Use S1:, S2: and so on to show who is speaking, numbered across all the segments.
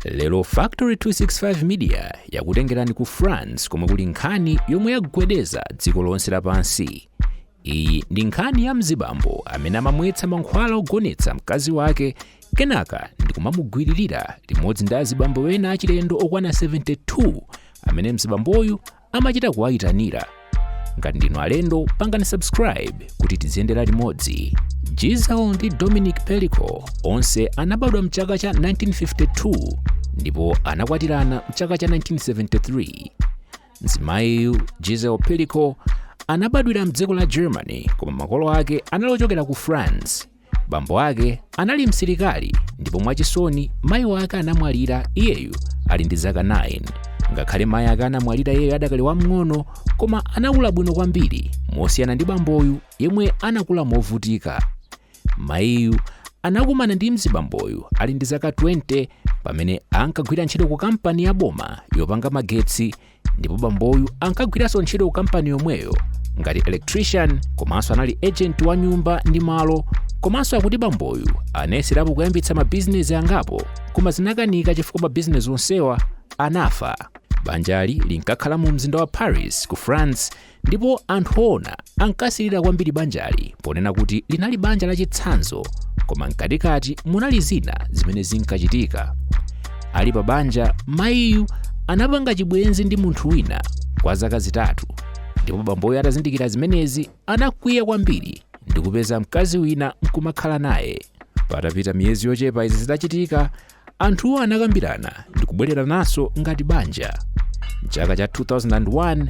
S1: lero factory 265 media yakutengerani ku france komwe kuli nkhani yomwe yagwedeza dziko lonse lapansi iyi ndi nkhani ya mzibambo amene amamwetsa mankhwala ogonetsa mkazi wake kenaka ndikumamugwiririra limodzi ndi azibambo ena achilendo okwana 72 amene mzibamboyu amachita kuwayitanira ngati ndinu alendo pangani subscribe kuti tiziyendera limodzi Gisèle ndi Dominique Pelicot onse anabadwa mchaka cha 1952 ndipo anakwatirana mchaka cha 1973 mzimayiyu Gisèle Pelicot anabadwira mdziko la germany koma makolo ake anali ochokera ku france Bambo ake anali msilikali ndipo mwachisoni mayi ake anamwalira iyeyu ali ndi zaka 9. Ngakhale mayi ake anamwalira iyeyu adakali wamng'ono, koma anakula bwino kwambiri mosiyana ndi bamboyu yemwe anakula movutika. Mayiyu anakumana ndi mzibamboyu ali ndi zaka 20 pamene ankagwira ntchito ku kampani ya boma yopanga magetsi ndipo bamboyu ankagwiranso ntchito ku kampani yomweyo ngati electrician komanso anali agent wa nyumba ndi malo komanso akuti bamboyu anayeserapo kuyambitsa mabizinesi angapo koma zinakanika chifukwa mabizinesi onsewa anafa banjali linkakhala mu mzinda wa paris ku france ndipo anthu oona ankasirira kwambiri banjali ponena kuti linali banja lachitsanzo koma mkatikati munali zina zimene zinkachitika ali pa banja mayiyu anapanga chibwenzi ndi munthu wina kwa zaka zitatu ndipo bamboyu atazindikira zimenezi anakwiya kwambiri ndikupeza mkazi wina nkumakhala naye patapita miyezi yochepa izi zitachitika Anthuwa anakambirana ndi kubwererananso ngati banja. M'chaka cha 2001,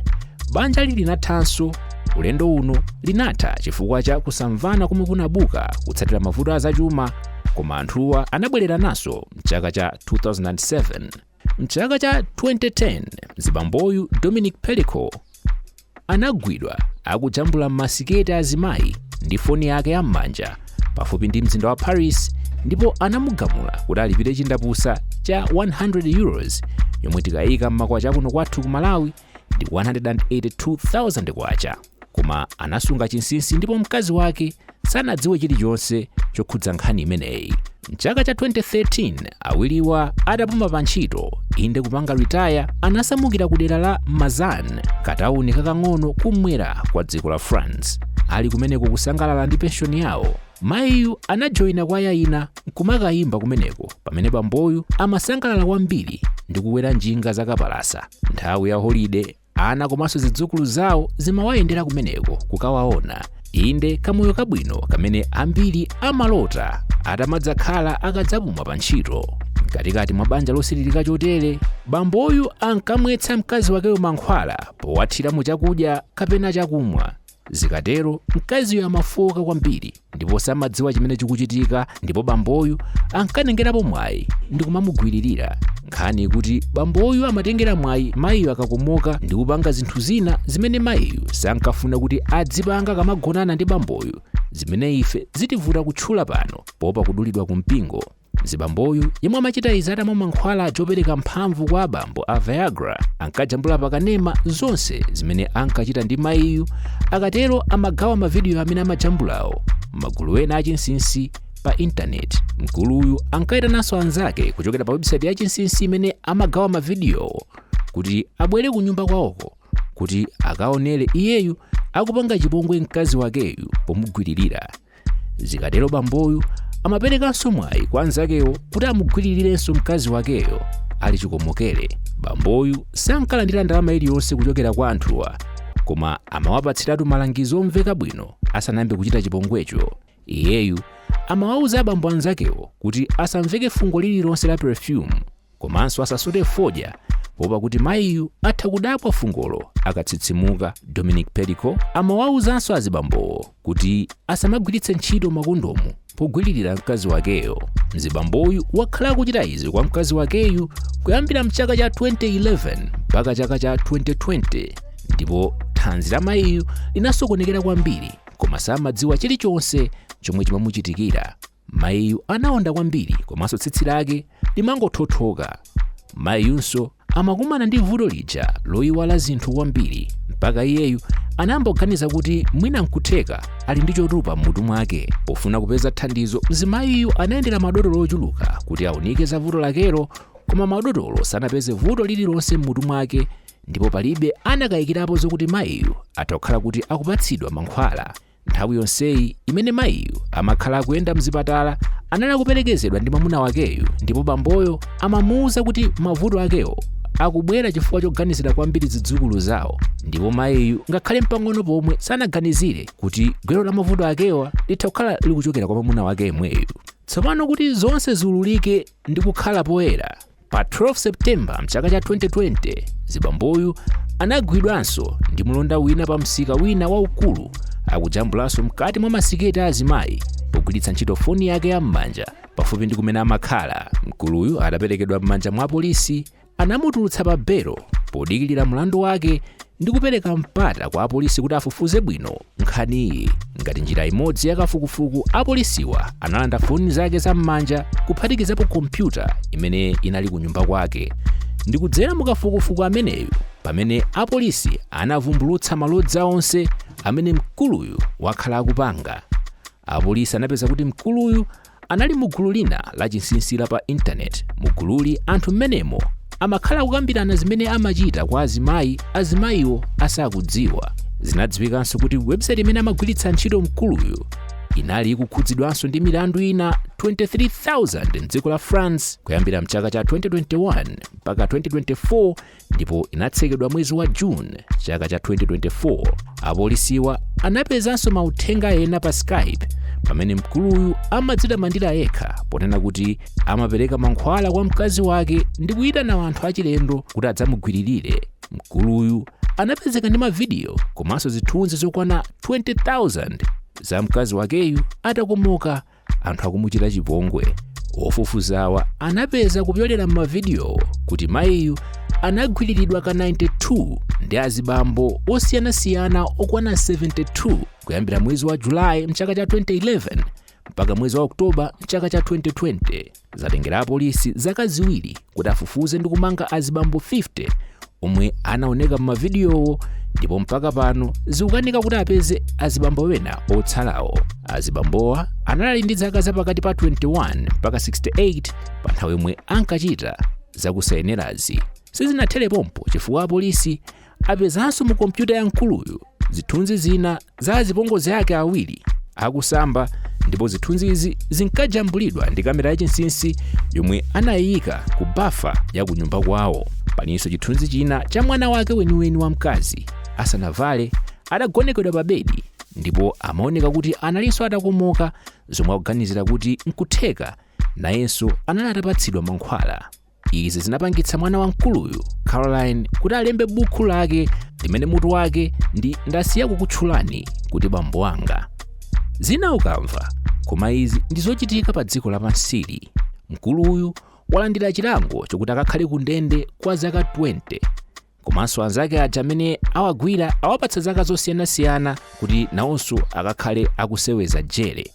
S1: banjali linathanso. Ulendo uno linatha chifukwa cha kusamvana komwe kunabuka kutsatira mavuto a zachuma, koma anthuwa anabwererananso m'chaka cha 2007. M'chaka cha 2010, mzibamboyu Dominique Pelicot anagwidwa akujambula m'masiketi a azimayi ndi foni yake ya m'manja pafupi ndi mzinda wa paris ndipo anamugamula kuti alipire chindapusa cha 100 euros yomwe tikayika m'makwacha kuno kwathu ku malawi ndi 182,000 kwacha koma anasunga chinsinsi ndipo mkazi wake sanadziwe chilichonse chokhudza nkhani imeneyi mchaka cha 2013 awiriwa adapuma pa ntchito inde kupanga retire anasamukira ku dera la mazan katawuni kakang'ono kumwera kwa dziko la france ali kumeneko kusangalala ndi penshoni yawo mayiyu anajoyina kwaya ina nkumakayimba kumeneko pamene bamboyu amasangalala kwambiri ndi kukwera njinga zakapalasa nthawi ya holiday ana komanso zidzukulu zawo zimawayendera kumeneko kukawaona inde kamoyo kabwino kamene ambiri amalota atamadzakhala akadzapuma pa ntchito mkatikati mwa banja losilirika chotere bamboyu ankamwetsa mkazi wakeyo mankhwala powathira mu chakudya kapena chakumwa Zikatero mkaziyo amafooka kwambiri ndipo samadziwa chimene chikuchitika ndipo bamboyu ankatengerapo mwayi ndi kumamugwiririra. Nkhani ikuti bamboyu amatengera mwayi mayiyo akakomoka ndi kupanga zinthu zina zimene mayiyu sankafuna kuti adzipanga akamagonana ndi bamboyu zimene ife zitivuta kutchula pano poopa kudulidwa ku mpingo. Mzibamboyu yemwe amachita izi atamwa mankhwala opereka mphamvu kwa abambo a Viagra ankajambula pakanema zonse zimene ankachita ndi mayiyu akatero amagawa mavidiyo amene amajambulawo m'magulu ena achinsinsi pa intaneti. Mkuluyu ankayitananso anzake kuchokera pa website ya chinsinsi imene amagawa mavidiyowo kuti abwere ku nyumba kwawoko kuti akaonere iyeyu akupanga chipongwe mkazi wakeyu pomugwiririra. zikatero bamboyu amaperekanso mwayi kwa anzakewo kuti amugwiririrenso mkazi wakeyo ali chikomokere bamboyu sankalandira ndalama iliyonse kuchokera kwa anthuwa koma amawapatsiratu malangizo omveka bwino asanayambe kuchita chipongwecho iyeyu amawawuza abambo anzakewo kuti asamveke fungo lililonse la perfume komanso asasute fodya poopa kuti mayiyu atha kudabwa fungolo akatsitsimuka dominique pelicot amawauzanso azibambowo kuti asamagwiritse ntchito makondomu pogwiririra mkazi wakeyo mzibamboyu wakhala akuchita izi kwa mkazi wakeyu kuyambira mchaka cha 2011 mpaka chaka cha 2020 ndipo thanzi la mayiyu linasokonekera kwambiri koma samadziwa chilichonse chomwe chimamuchitikira Mayiyu anaonda kwambiri komanso tsitsi lake limangothothoka. Mayiyunso amakumana ndi vuto lija loyiwala zinthu kwambiri mpaka iyeyu anayamba kuganiza kuti mwina nkutheka ali ndi chotupa m'mutu mwake. Pofuna kupeza thandizo, mzimayiyu anayendera madotolo ochuluka kuti aunike za vuto lakelo koma madotolo sanapeze vuto lililonse m'mutu mwake ndipo palibe anakayikirapo zokuti mayiyu atha kukhala kuti akupatsidwa mankhwala. Nthawi yonseyi imene mayiyu amakhala akuyenda mzipatala anali akuperekezedwa ndi mwamuna wakeyu ndipo bamboyo amamuuza kuti mavuto akewo akubwera chifukwa choganizira kwambiri zidzukulu zawo ndipo mayiyu ngakhale mpang'ono pomwe sanaganizire kuti gwero la mavuto akewa litha kukhala likuchokera kwa mwamuna wake yemweyu tsopano kuti zonse ziululike ndi kukhala poyera Pa 12 September mchaka cha 2020, zibamboyu anagwidwanso ndi mlonda wina pa msika wina waukulu akujambulanso mkati mwa masiketi a azimayi pogwiritsa ntchito foni yake ya m'manja pafupi ndi kumene amakhala. Mkuluyu ataperekedwa m'manja mwa apolisi anamutulutsa pa belo podikilira mlandu wake ndi kupereka mpata kwa apolisi kuti afufuze bwino nkhaniyi ngati njira imodzi ya kafukufuku apolisiwa analanda foni zake za m'manja kuphatikizapo kompyuta imene inali ku nyumba kwake ndi kudzera mu kafukufuku ameneyu pamene apolisi anavumbulutsa malodza onse amene mkuluyu wakhala akupanga apolisi anapeza kuti mkuluyu anali mu gulu lina lachinsinsi la pa intaneti. Mu gululi anthu mmenemo amakhala akukambirana zimene amachita kwa azimayi azimayiwo asakudziwa. Zinadziwikanso kuti webusaiti imene amagwiritsa ntchito mkuluyu inali ikukhudzidwanso ndi milandu ina 23,000 m'dziko la France kuyambira mchaka cha 2021 mpaka 2024 ndipo inatsekedwa mwezi wa june chaka cha 2024 apolisiwa anapezanso mauthenga ena pa skype pamene mkuluyu amadzitamandira yekha ponena kuti amapereka mankhwala kwa mkazi wake ndi kuyitana anthu achilendo kuti adzamugwiririre mkuluyu anapezeka ndi mavidiyo komanso zithunzi zokwana 20000 za mkazi wakeyu atakomoka anthu akumuchita chipongwe ofufuzawa anapeza kupyolera m'mavidiyowo kuti mayiyu anagwiriridwa ka 92 ndi azibambo osiyanasiyana okwana 72 kuyambira mwezi wa julayi mchaka cha 2011 mpaka mwezi wa oktoba mchaka cha 2020 Zatengera apolisi zaka ziwiri kuti afufuze ndi kumanga azibambo 50 omwe anaoneka m'mavidiyowo ndipo mpaka pano zikukanika kuti apeze azibambo wena otsalawo. Azibambowa anali ndi zaka za pakati pa 21 mpaka 68 pa nthawi yomwe ankachita zakusayenerazi. Sizinathere pompo chifukwa apolisi apezanso mu kompyuta ya mkuluyu zithunzi zina za azipongozi ake awiri akusamba ndipo zithunzizi zinkajambulidwa ndi kamera yachinsinsi yomwe anayiyika ku bafa ya ku nyumba kwawo palinso chithunzi china cha mwana wake weniweni wamkazi asanavale atagonekedwa pa bedi ndipo amaoneka kuti analinso atakomoka zomwe akuganizira kuti nkutheka nayenso anali atapatsidwa mankhwala Izi zinapangitsa mwana wa mkuluyu, Caroline, kuti alembe buku lake limene mutu wake ndi Ndasiya Kukutchulani Kuti Bambo Wanga. Zina ukamva, koma izi ndi zochitika pa dziko lapansili. Mkuluyu walandira chilango chokuti akakhale ku ndende kwa zaka 20 komanso anzake aja amene awagwira awapatsa zaka zosiyanasiyana kuti nawonso akakhale akuseweza jere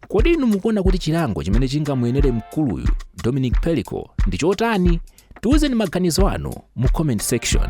S1: kodi inu mukuona kuti chilango chimene chingamuyenere mkuluyu dominic pelicot ndi chotani tiwuzeni maganizo anu mu comment section